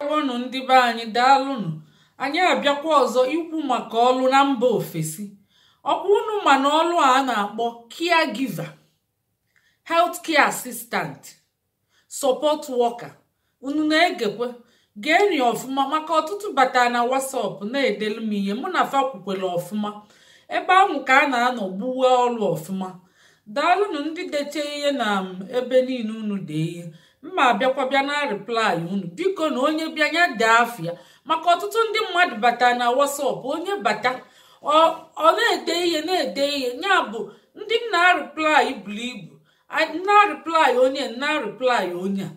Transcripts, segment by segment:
ngwanụ ndị be anyị daalụnụ anyị abịakwa ọzọ ikwu maka ọlụ na mba ofesi ọkwa unu ma na ọlụ a na-akpọ caregiver health care assistant support worker unu na-egekwe geenị ọfụma maka ọtụtụ bata na WhatsApp na-edelu m ihe mụ na fa kwukwere ọfụma ebe ahụ ka a na-anọ gbuwe ọlụ ọfụma daalụnụ ndị deche ihe na ebe niile unu dee ihe m ma-abịakwa bịa na-areply unu biko na onye bịa ya dee afa ya maka ọtụtụ ndị mmadụ bata na WhatsApp onye bata ọ na-ede ihe na-ede ihe ya bụ ndị m na-areply buru ibu m na-areply onye m na-areply onye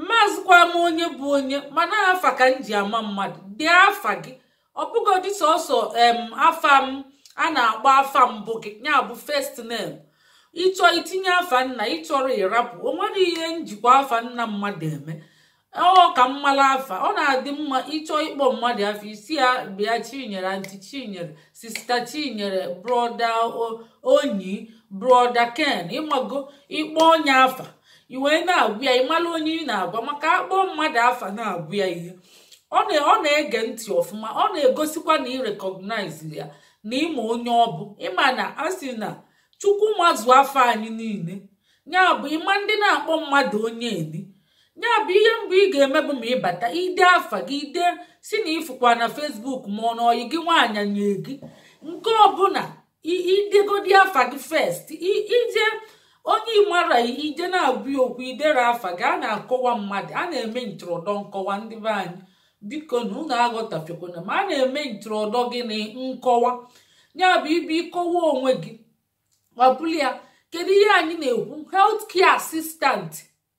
amazịkwa m onye bụ onye mana afa ka m ji ama mmadụ dee afa gị ọ bụgodị sọsọ em afa m a na-akpọ afa mbụ gị ya bụ first name ị chọọ itinye afa nna ị chọrọ ị rapụ o nwerọ ihe m jikwa afa nna mmadụ eme ọ ka m mala afa ọ na-adị mma ị chọọ ịkpọ mmadụ afa ị sị ya bịa chinyere anti chinyere sista chinyere broda onyi broda ken ị mago ị kpọọ onye afa i wee na-agwa ya ị mara onye ị na-agwa maka a kpọọ mmadụ afa na-agwa ya ihe ọ na-ege ntị ọfụma ọ na-egosikwa na ị recognize ya na ị ma onye ọ bụ ị ma na a sị na chukwu mazụ afa anyị niile ya bụ ị ma ndị na-akpọ mmadụ onye edi ya bụ ihe mbụ ị ga-eme bụ ma ị bata i dee afa gị i dee sị na ị fụkwa na Facebook ma ọ na ọyị gị nwaanyị nye gị nke ọbụla i degodi afa gị first ije onye ị mara i je na-agwa ya okwu i dere afa gị a na-akọwa mmadụ a na-eme ntụrụdọ nkọwa ndị be anyị biko na unu aghọtafekwana ma a na-eme ntụrụdọ gị na nkọwa ya bụ ị bịa ịkọwa onwe gị ọ bụla ya kedu ihe anyị na-ekwu health care assistant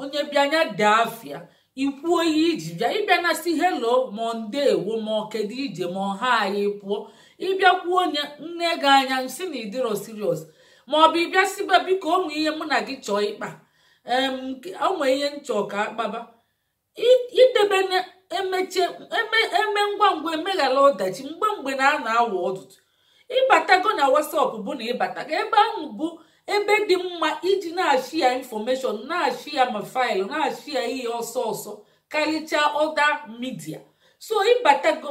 onye bịa nya dee afa ya i kwuo ihe i ji bịa ị bịa na-asị hello ma ndewo ma kedu ije ma ọ hi pụọ ị bịa kwuo onye nee gị anya sị na ị dịrọ serious ma ọ bụ ị bịa sịba biko o nwe ihe mụ na gị chọọ ịkpa o nwe ihe m chọ ka a kpaba i debe emeche e mee ngwa ngwa e meghara ọdachi mgbe mgbe na a na-awa ọdụdụ ị batago na WhatsApp bụ na ị batago ebe ahụ bụ ebe dị mma iji na-ashare information na-ashare ma file na-ashare ihe ọsọ ọsọ karịchaa other media so ị batago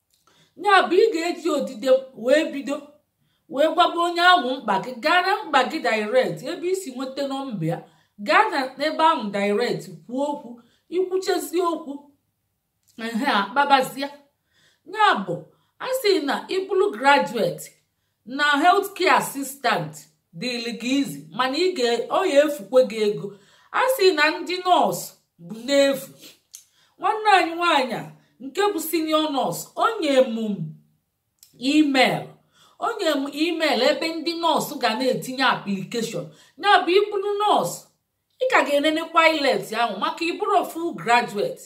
ya bụ ị ga-eji odide wee bido wee gwaba onye ahụ mkpa gị gaa na mkpa gị direct ebe i si nweta nọmba ya gaa na ebe ahụ direct kwuo okwu i kwuchezie okwu ehe a kpabazie ya bụ a sị na ị bụrụ graduate na health care assistant dịrị gị easy mana ị ga ọ ya-efukwe gị ego a sị na ndị nọọsụ bụ n'efu nwanne anyị nwaanyị a nke bụ senior nọọsụ o nye m email o nye m email ebe ndị nọọsụ ga na-etinye application ya bụ ị bụrụ nọọsụ ị ka ga-enenekwa IELTS ahụ maka ị bụrọ full graduate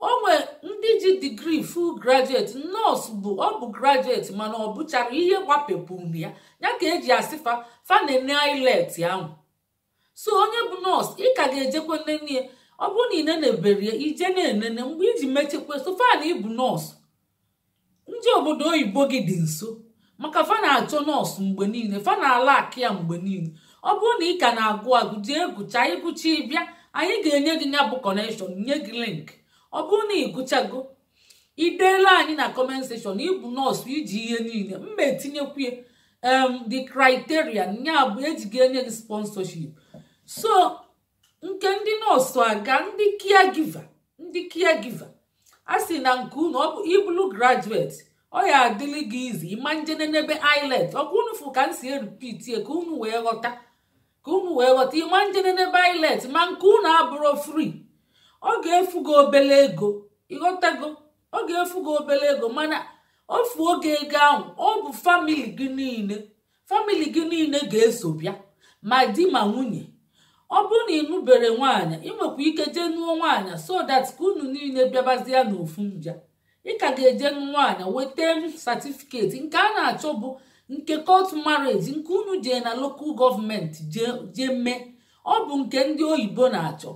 o nwe ndị ji digrii full graduate nọọsụ bụ ọ bụ graduate mana ọ bụcharọ ihe gbapepụrụ ya ya ka e ji asị fa fa na-ene IELTS ahụ so onye bụ nọọsụ ị ka ga-ejekwa nene ya ọ bụrụ na ị neneberọ ya i je na-enene mgbe i ji mechekwa so far na ị bụ nọọsụ njem obodo oyibo gị dị nso maka fa na-achọ nọọsụ mgbe niile fa na-alack ya mgbe niile ọ bụrụ na ị ka na-agụ agụ jee gụcha ị gụcha ị bịa anyị ga-enye gị ya bụ kọnekshọn nye gị link ọ bụrụ na ị gụchago i deela anyị na kọment sekshọn ị bụ nọọsụ i ji ihe niile m ma-etinyekwu ya um the criteria ya bụ e ji ga-enye gị sponsorship so nke ndị nọọsụ agaa ndị caregiver ndị caregiver a sị na nke unu ọ bụ ị bụlụ graduate ọ ya-adịlị gị easy ị ma nje nenebe IELTS ọ kwa unu fụ ka m si erepeat ya ka unu wee ghọta ka unu wee ghọta ị ma nje nenebe IELTS ma nke unu abụrọ free ọ ga-efu gị obele ego ị ghọtago ọ ga-efu gị obele ego mana ofu oge ego ahụ ọ bụ famili gị niile famili gị niile ga-eso bịa ma di ma nwunye ọ bụrụ na ị nụberọ nwaanyị ị nwekwa ike jee nụọ nwaanyị so that ka unu niile bịabazie n'ofu mbịa ị ka ga-eje nụ nwaanyị weta satifiketi nke a na-achọ bụ nke court marriage nke unu jee na lokal gọọmenti jee mee ọ bụ nke ndị oyibo na-achọ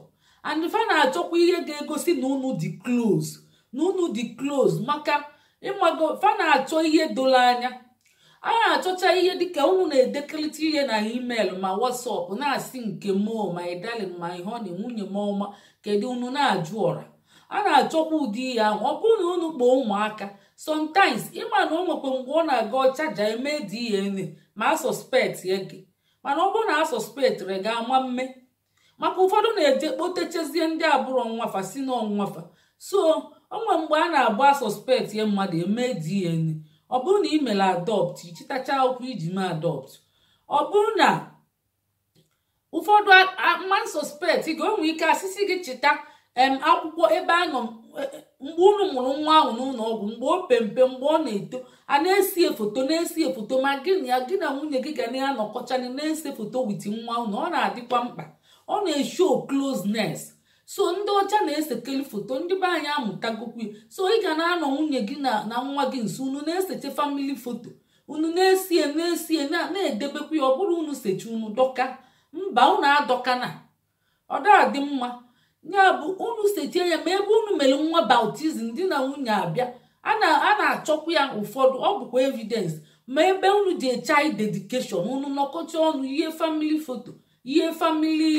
and fa na-achọkwa ihe ga-egosi na unu dị close na unu dị close maka ị mago fa na-achọ ihe doro anya a na-achọcha ihe dịka unu na-edekelịta ihe na email ma WhatsApp na-asị nke m o my darling my honey nwunye m ọma kedu unu na-ajụ ọra a na-achọkwa ụdị ihe ahụ ọ bụrụ na unu kpọọ ụmụaka sometimes ị ma na o nwekwa mgbe ọ na-aga ọchaja eme DNA ma a suspectie gị mana ọ bụrụ na a suspectirọ gị a ma mme maka ụfọdụ na-eje kpotechezie ndị abụrọ nwa fa sị na ọ nwa fa so o nwe mgbe a na-abụ a suspectie mmadụ e mee DNA ọ bụrụ na ị mere adopt ị chịtacha akwụkwọ i ji mee adopt ọ bụrụ na ụfọdụ ma a suspectie gị o nwe ike a sị sị gị chịta em akwụkwọ ebe a nọ e, e, mgbe unu mụrụ nwa ahụ n'ụlọ ọgwụ mgbe ọ pe mpe mgbe ọ na-eto a na-ese foto na-ese foto ma gị na gị na nwunye gị ga na-anọkọcha na-ese foto with nwa unu ọ na-adịkwa mkpa ọ na-eshow closeness so ndị ọcha na-esekeli foto ndị be anyị amụtagokwu so ị ga na-anọ nwunye gị na nwa gị nso unu na-eseche family foto unu na-esie na-esie na-edebekwa ya ọ bụrụ unu seche unu dọka mba unu adọkana ọ da-adị mma ya bụ unu seche ya ma ebe unu mere nwa baptism di na nwunye abịa a na-achọkwa ya ụfọdụ ọ bụkwa evidence ma ebe unu jee child dedication unu nọkọcha ọnụ ihe family foto ihe family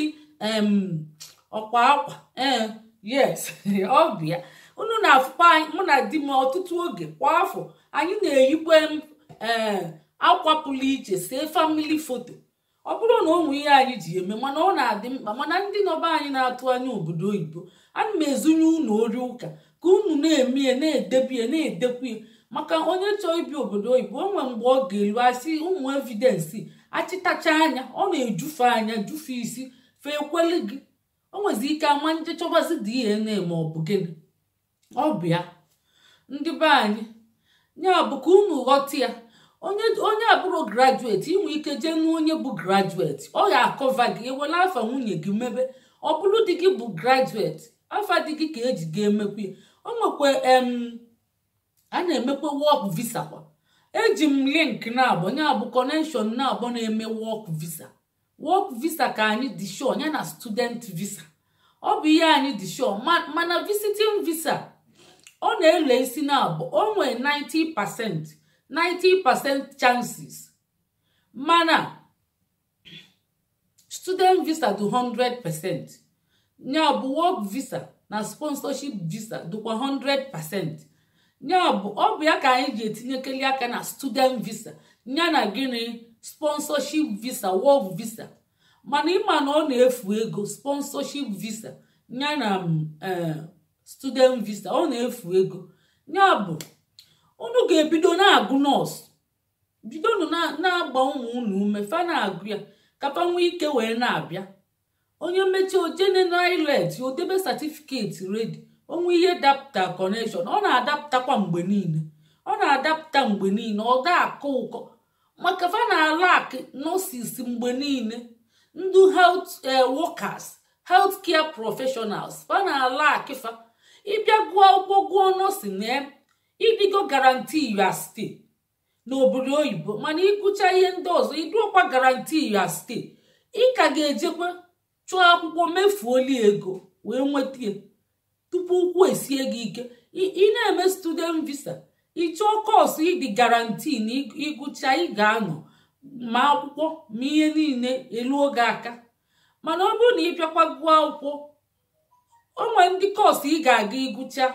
ọkwa akwa ee yes ọ bụ ya unu na-afụkwa anyị mụ na di m ọtụtụ oge kwa afọ anyị na-eyikwe ee akwa pụrụ iche see family foto ọ bụrọ na o nwee ihe anyị ji eme mana ọ na-adị mkpa mana ndị nọ be anyị na-atụ anya obodo oyibo ana m ezunye unu ori ụka ka unu na-eme ya na-edebe ya na-edekwu ya maka onye chọọ ibi obodo oyibo o nwee mgbe ọ ga-elu a sị ụmụ evidence achịtachaa ya ọ na-ejufe anya jufe isi fe ekweli gị o nwezi ike ama nje chọbazi DNA ma ọ bụ gịnị ọ bụ ya ndị be anyị ya bụ ka unu ghọta ya onye abụrọ graduate nwee ike jee nụ onye bụ graduate ọ ya-acover gị ewelu afa nwunye gị mebe ọ bụrụ di gị bụ graduate afa di gị ka eji ga-emekwa ya o nwekwa em a na-emekwa work visa kwa eji m link na-abụ ya bụ connection na-abụ na-eme work visa work visa ka anyị dị sure ya na student visa ọ bụ ihe anyị dị sure mana visiting visa ọ na-ele isi ya bụ o nwee 90 percent 90 percent chances mana student visa dị 100 percent ya bụ work visa na sponsorship visa dịkwa 100% ya bụ ọ bụ ya ka anyị ji etinyekeli aka na student visa ya na gịnị sponsorship visa work visa mana ịma na ọ na-efu ego sponsorship visa ya na mm, eh, student visa ọ na-efu ego ya bụ unu ga-ebido na-agụ nọọsụ bidonụ na-agba ụmụ unu ume fa na-agụ ya ka fa nwee ike wee na-abịa onye meche o jee nene IELTS ya o debe certificate ready o nwee ihe dapụta connection ọ na-adapụtakwa mgbe niile ọ na-adapụta mgbe niile ọ da-akọ ụkọ maka fa na-alack nurses mgbe niile ndị health eh, workers health care professionals fa na-alack fa ị bịa gụọ akwụkwọ gụọ nursing na ị dịgo guarantee ya sti n'obodo oyibo mana ịgụcha ihe ndị ọzọ ị dịrọkwa guarantee ya stay ị ka ga-ejekwa chọọ akwụkwọ mefuoli ego wee nweta ya tupu ụkwụ esie gị ike ị na-eme student visa ị chọọ kọọsụ ị dị guarantee na ịgụcha ị ga-anọ ma akwụkwọ ma ihe niile eluo gị aka mana ọ bụrụ na ị bịakwa gụọ akwụkwọ o nwere ndị kọọsụ ị ga-aga ịgụcha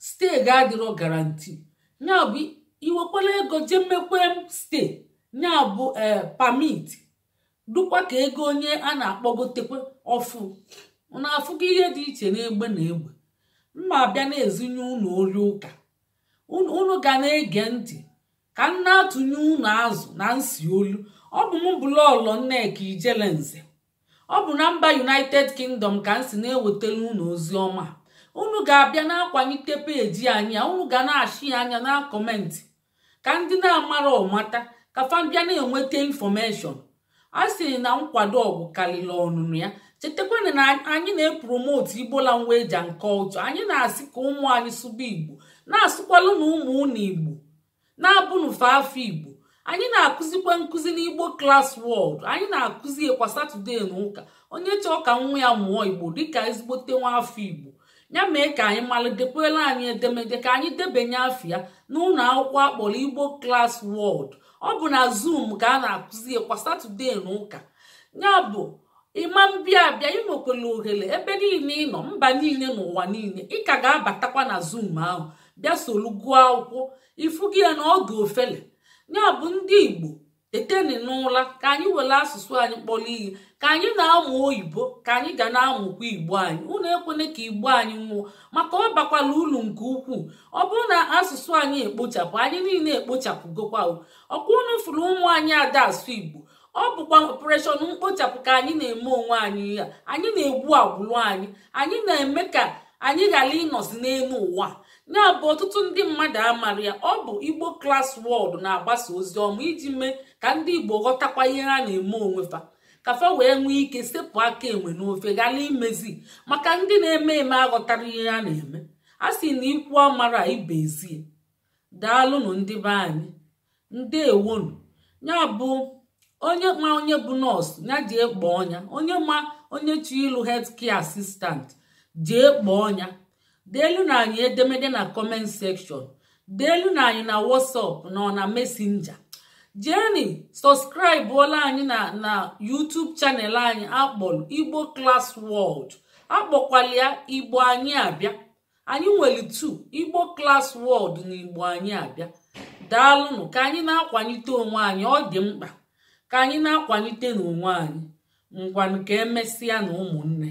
stay gị adịrọ guarantee ya bụ i wekwala ego jee mekwe stay ya bụ ee permit dukwa ka ego onye a na-akpọgotekwe ọfụụ unu afụgo ihe dị iche n'egbe na egbe m ga-abịa na-ezinye unu ori ụka unu ga na-ege ntị ka m na-atụnye unu azụ na nsi olu ọ bụ m bụ lọọlọ nneka ijele nze ọ bụ na mba united kingdom ka m si na-ewetara unu ozi ọma unu ga-abịa na-akwalite peji anyị a unu ga na-ashia ya na-akọmentị ka ndị na-amarọ mata ka fa bịa na-enweta infọmeshọn a sị na nkwado ọgwụ karịrị ọnụnụ ya chetakwanụ na anyị na-epromotu igbo language and culture anyị na-asị ka ụmụ anyị sụba igbo na-asụkwalụnụ ụmụ unu igbo na-agụnụ fa afa igbo anyị na-akụzikwa nkụzi n'igbo class world anyị na-akụzi ya kwa satọdee na ụka onye chọọ ka nwa ya mụọ igbo dịka ezigbote nwa afọ igbo ya mee ka anyị malụ dekwala anyị edemede ka anyị debanye afa ya n'ụlọ akwụkwọ a kpọrọ igbo class world ọ bụ na zoom ka a na-akụzi ya kwa satọdee na ụka ya bụ ịma mbịa abịa ị nwekwara ohere ebe niile ị nọ mba niile n'ụwa niile ị ka ga-abatakwa na zoom ahụ bịa solu gụọ akwụkwọ ị fụgo ya na ọ dị ofele ya bụ ndị igbo teteni n'ụla ka anyị were asụsụ anyị kpọrọ ihe ka anyị na-amụ oyibo ka anyị ga na-amụkwa igbo anyị unu ekwene ka igbo anyị nwụọ maka ọ bakwala ulu nke ukwuu ọ bụrụ na asụsụ anyị ekpochapụ anyị niile ekpochapụgokwa ọkwa unu fụrụ ụmụ anyị ada asụ igbo ọ bụkwa operation mkpochapụ ka anyị na-eme onwe anyị ya anyị na-egbu agbụlụ anyị anyị na-eme ka anyị ghara ịnọzi n'elu ụwa ya bụ ọtụtụ ndị mmadụ amarọ ya ọ bụ igbo class world na-agbasa ozi ọma iji mee ka ndị igbo ghọtakwa ihe ha na-eme onwe fa ka fa wee nwee ike sepụ aka enwe n'ofe ghara imezi maka ndị na-eme eme aghọtarọ ihe ha na-eme a sị na ikwu amarọ ibe ezi ya daalụnụ ndị be anyị ndeewonụ ya bụ onye ma onye bụ nọọsụ ya jee kpọọ ya onye ma onye chọ ịlụ health care assistant jee kpọọ ya deelụnụ anyị edemede na comment section deelụnụ anyị na whatsapp na na messenger jeeni sọskraịbụọla anyị na na YouTube channel anyị a kpọrọ Igbo Class World a kpọkwalụ ya Igbo anyị abịa anyị nwere two igbo class world na igbo anyị abịa daalụnụ ka anyị na-akwanyite onwe anyị ọ dị mkpa ka anyị na-akwanyite n'onwe anyị ngwanụ ka emesịa na ụmụnne